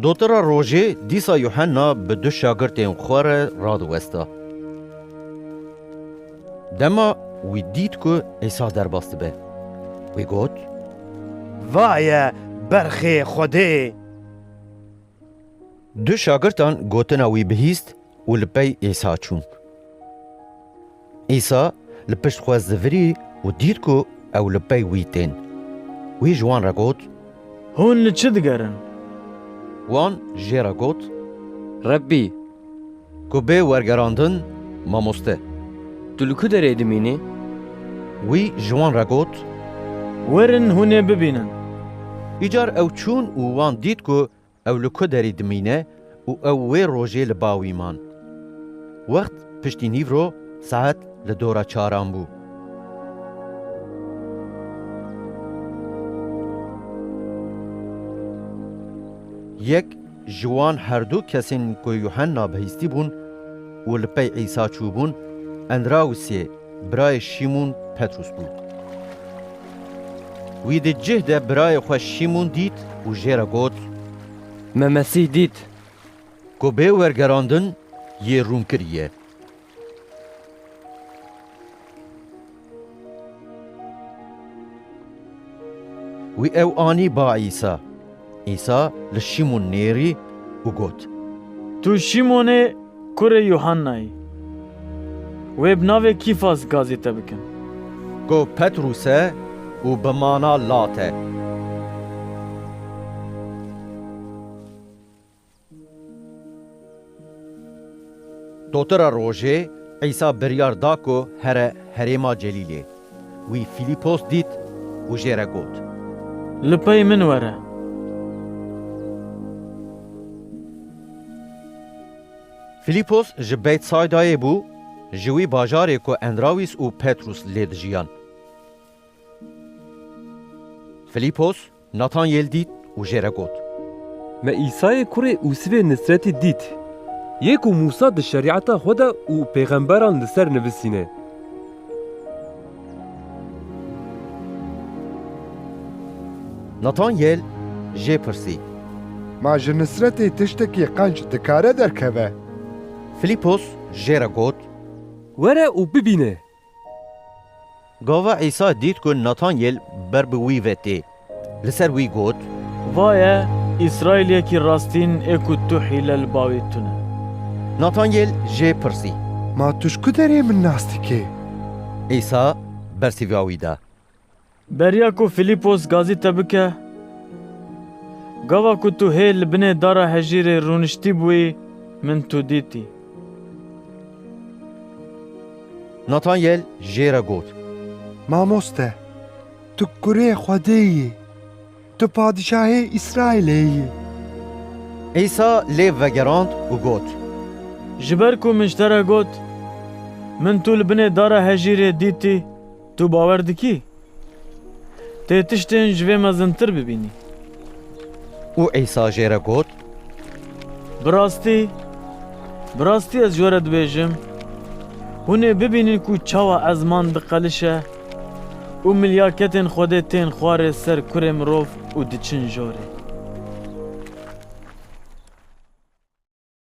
Dotira rojê dîsa Yuhenna bi du şagirtên xwe re radiwesta. Dema wî dît ku Îsa derbas dibe, wî got, Vaye berxê Xwedê! Du şagirtan gotina wî bihîst û li pey Îsa çûn. Îsa li pişt xwe zivirî û dît ku ew li pey wî tên. Wî ji wan re got, Hûn li çi digerin? Wan jê re got, Rebbî! Ku bê wergerandin mamoste. Tu li ku derê dimînî? Wî ji wan re got. Werin hûn ê bibînin. Îcar ew çûn û wan dît ku ew li ku derî dimîne û ew wê rojê li ba wî man. Wext piştî nîvro saet li dora çaran bû. Yek Ji wan herdu kesên ku Yuhenna bihîstî bûn û li pey Îsa çûbûn, Endrawusê birayê Şîmûn Petrûs bû. Wî di cih de birayê xwe Şîmûn dît û jê re got, Me Mesîh dît! Ku bê wergerandin yê rûn kiriye. Wî ew anî ba Îsa. Îsa li Şîmon nêrî û got. Tu Şîmon î kurê Yuhanna î. Wê bi navê Kîfas gazê te bikin. Ku Petrûs e û bi mana lat e. Dotira rojê, Îsa biryar da ku here herêma Celîlê. Wî Fîlîpos dît û jê re got. Li pey min were. Fîlîpos ji Beytsaydayê bû, ji wî bajarê ku Endrawîs û Petrûs lê dijiyan. Fîlîpos Natanyêl dît û jê re got. Me Îsayê kurê Usivê Nisretî dît. Yê ku Mûsa di Şerîeta xwe de û pêxemberan li ser nivisîne. Natanyêl jê pirsî. Ma ji Nisretê tiştekî qenc dikare derkeve? Filîpos jê re got. Were û bibîne. Gava Îsa dît ku Natanyêl ber bi wî ve tê, li ser wî got. Va ye Îsraîliyekî rastîn ê ku tu hîle li bawê tune. Natanyêl jê pirsî. Ma tu ji ku derê min nas dikê? Îsa bersîva wî da. Beriya ku Filîpos gazî te bike, gava ku tu hê li binê dara hejîrê rûniştîbûyî min tu dîtî. Natanyel jê re got. Mamoste, tu kurê Xwedê yî, tu padîşahê Îsraîlê yî. Îsa lê vegerand û got. Ji ber ku min ji te re got, Min tu li binê dara hejîrê dîtî, Tu bawer dikî tê tiştên ji vê mezintir bibînî? Û Îsa jê re got. Bi rastî, bi rastî ez ji we re dibêjim, hûn ê bibînin ku çawa ezman diqelişe û milyaketên Xwedê tên xwarê ser kurê mirov û diçin jorê.